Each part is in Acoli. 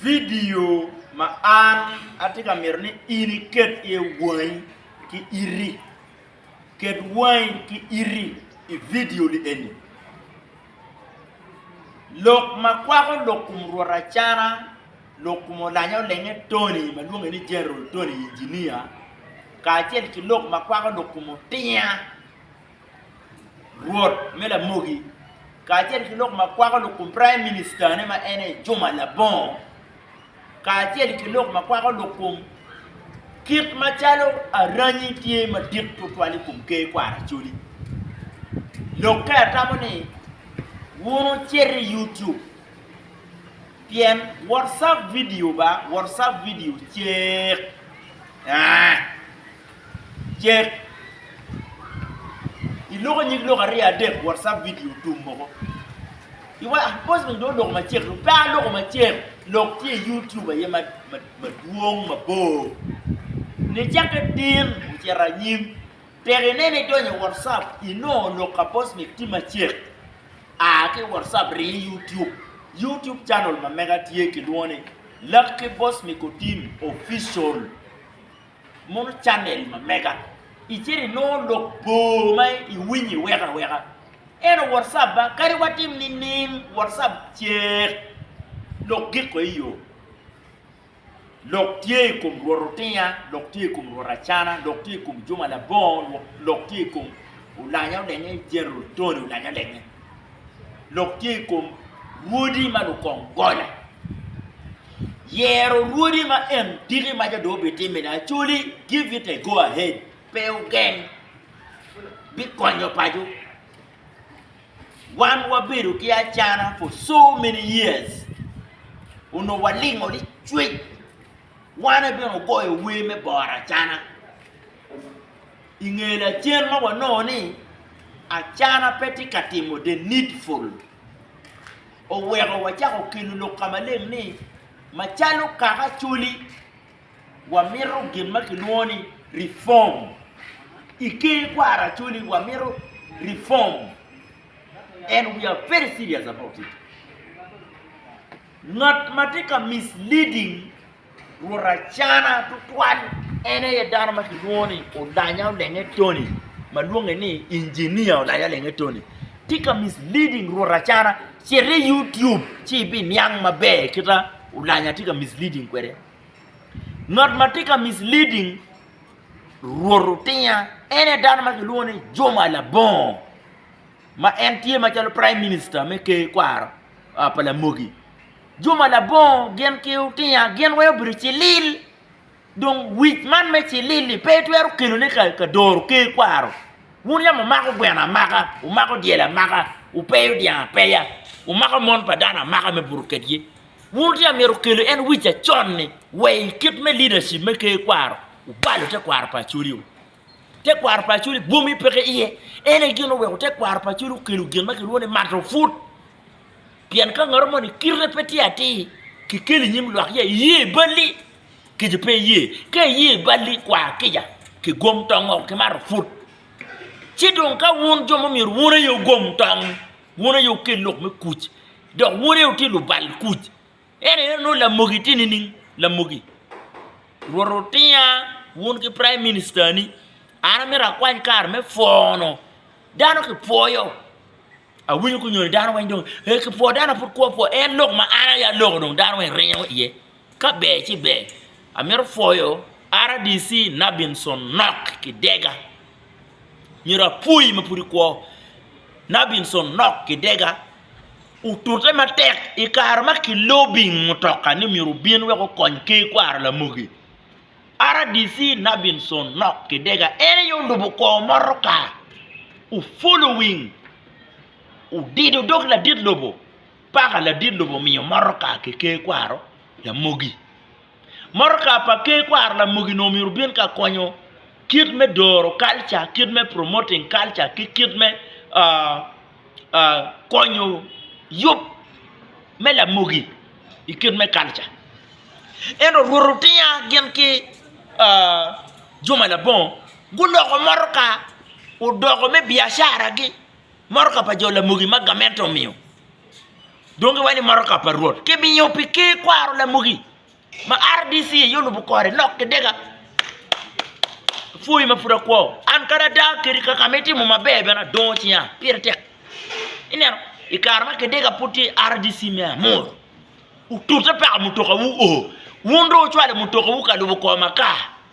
Vidio ma an atye ka mito ni in iket iye wangi ki iti. Ket wangi ki iti i vidio-ni eni. Lok ma kwako lok kom rwot Acana, lok kom olanya olenge Tony ma lwonge ni General Tony Inginia, kacel ki lok ma kwako lok kom Otinya Rwot me lamogi, kacel ki lok ma kwako lok kun Praim Minicitane ma en aye Juma Labongo, kacel ki lok ma kwako lok kun kit ma calo aranyi tye madit twatwal i kom Ker kwaro Acholi. Lokke atamo ni wun wucit i YouTube pien WhatsApp video ba, WhatsApp video cek. Cek i loko nyig lok aryo adek WhatsApp video tum moko. I wa bos me do loko macek do pe aloko macek lok tye i YouTube aye ma ma madwong mabor. Ni cakke tin ocito anyim tek inene idonyo i WhatsApp inongo lok ka bos me tye macek. A ki WhatsApp rii i YouTube. YouTube channel ma mega tye kilwongo ni Lucky Boss Mikotim Official. Mono channel ma mega icito inongo lok bor ma iwinyo iweko aweka ento WhatsApp ba kadi watim nining WhatsApp cek lok giko iyo lok tye i kom Rwot Otinya lok tye i kom Rwot Acana lok tye i kom Juma Labongo lok tye i kom Olanya Olenge General Tony Olanya Olenge lok tye i kom Rwodi ma Lukong Gola yero rwodi ma en tiki ma jo dong bitimme ni acoli give it a go ahead pe ogeng bikonyo paco wan wabedo ki acana for so many years onongo walingo ni cwec wan ebino ogoyo wer me boro acana inge lacen ma wanongo ni acana pe tye ka timo the needful oweko wacako kelo lok ka maleng ni macalo kaka Acholi, wamito gin ma kilwongo ni reform. I ker kwaro Acholi wamito reform and we are very serious about it. Ngat ma tye ka misleading Rwot acana tutwal en aye dano ma kilwongo ni Olanya Olenge Tony ma lwonge ni Engineer Olanya Olenge Tony tye ka misleading Rwot acana cit i YouTube ci ibiniang maber kita Olanya tye ka misleading kwede ngat ma tye ka misleading Rwot Otinya en aye dano ma kilwongo ni Juma Labongo ma en tye macalo Praim Minista me Ker kwaro pa Lamogi Juma labongo gin ki otinya gin wai obedo cilil dong wic man me cilil ni pe itwero kelo ne ka doro ker kwaro wun yam umako gweno amaka umako dyel amaka upeyo dyang apeya umako mon pa dano amaka me buto ked gi wun tye amyero kelo en wic acon ni wai kit me leadership me ker kwaro ubalo te kwaro pa Acholi o. Tekwaro pa Acholi bwomme peke iye. En aye gin oweko tekwaro pa Acholi okelo gin ma kilwongo ni mato put. Pien ka ngat moni kite pe tye atir, kikeli i nyim lwak ya iye i balli, kica pe iye. Ka iye i balli, kwa kica, kigom tong woko ki mato put. Ci dong ka wun jo ma myero wun aye wugom tong, wun aye wukel lok me kuc, dok wun aye wutye lubal kuc, En aye onongo lamogi tye nining? Lamogi. Rwot otinga wun ki praim ministani, an amito akwany kare me pwono dano kipwoyo. Awinyo kunyo ni dano weng dong ee kipwoo dano aye pud kwo pwoo en lok ma an aye aloko dong dano weng ringo iye ka ber ci ber. Amito pwoyo RDC Nabinson Nok Kidega myero apwoyi ma pud ikwo Nabinson Nok Kidega. otute matek i kare ma kilobing mutoka ni myero obin wek okony Ker Kwaro Lamogi, RDC Nabinson Nok Kidega en aye olubo kor motoka ofulo wing odido dog ladit lobo paka ladit lobo omiyo motoka ki Ker Kwaro Lamogi. Motoka pa Ker kwaro lamogi nongo myero obin ka konyo kit me doro kalca, kit me promoting kalca ki kit me konyo yub me lamogi i kit me kalca. Ento Rwot otinga gin ki juma labongo guloko motoka odoko me biacaragi, motoka pa jo lamogi ma gamente omiyo. Dong iwaco ni motoka pa Rwot kimiyo pi Ker kwaro lamugi ma RDC aye olubo kore nok ki dega. Apwoyi ma pud akwo. An kadi ada kadi kaka ma itimo maber bene adongo cinya pire tek. Ineno i kare ma kidega pud tye RDC me amuru otute paka mutokawu oo wun dong wucwalo mutokawu ka lubo kor makar.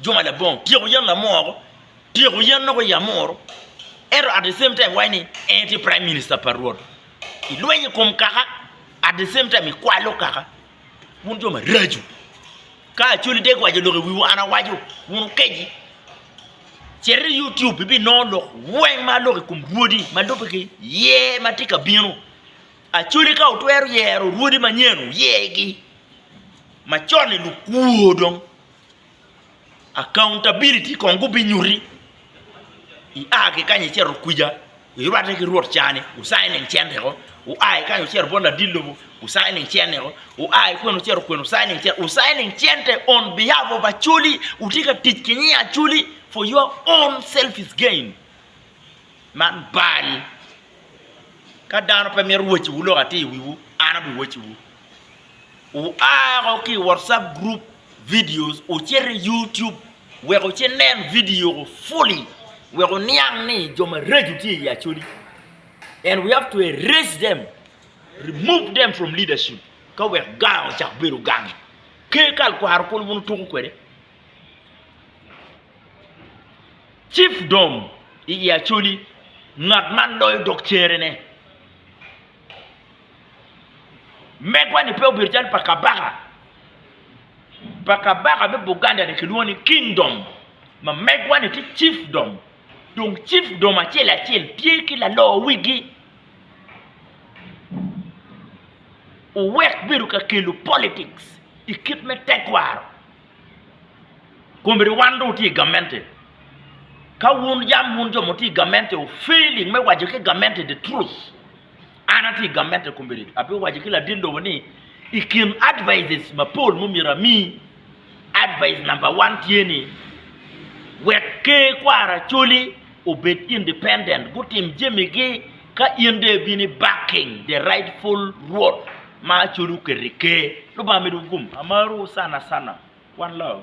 Juma labongo tyeko yen lamoro, tyeko yen loko i amoro, ento at the same time iwaco ni en tye prime minister pa rwot. Ilweny i kom kaka at the same time ikwalo kaka. Wun jo maraco. Ka Acholi dek waco lok i wiwu an awaco, wun wukeci. Cit i YouTube ibinongo lok weng ma aloko i kom rwodi ma lubbe ki ye ma tye ka bino. Acholi ka wutwero yero rwodi manyen wuyegi. Macon-ni lukwor dong. Accountability kong gubinyuti ia ki kany icito kwica irwatte ki rwot ca ni wu signing cente o, wua ki kany wucito bot ladit lobo wu signing cene o, wua ki kwica wucito kwene wu signing cene o, wu signing cente on behalf of Acholi wutye ka tic ki nying Acholi for your own selfish gain man bal ka dano pe mito woco wu lok atir i wiwu an abiwoco wu. Wua woko ki i WhatsApp group videos wucit i YouTube wek wuci nen video fully wek wuniang ni jo mareco tye i Acholi and we have to erase them, remove them from leadership ka wek gang ocak bedo gang. Ker kal kwaro kulu bun tuko kwede. Chiefdom i Acholi ngat man loyo dok cere ne. Megwa-ni pe obedo calo pa kabaka pa kabaka me Buganda-ni kilwongo ni kingdom, ma megwa-ni tye cifdom dong cifdom acel acel tye ki lalo wigi. Owek bedo ka kelo politics i kit me tekwaro kombeddi wan dong watye i gamente. Ka wun yam wun jo ma wutye i gamente wu failing me waco ki gamente the truth. An atye i gamente i komedi, abiwaco ki ladit lobo ni i kin advices mapol ma myero ami, advice number one tye ni wek ker kwaro Acholi obed independent gutim jamigi ka in dong ibino i backing the rightful rwot ma Acholi oketo i ker. Lubanga medo gum. Amarou sana sana. One love.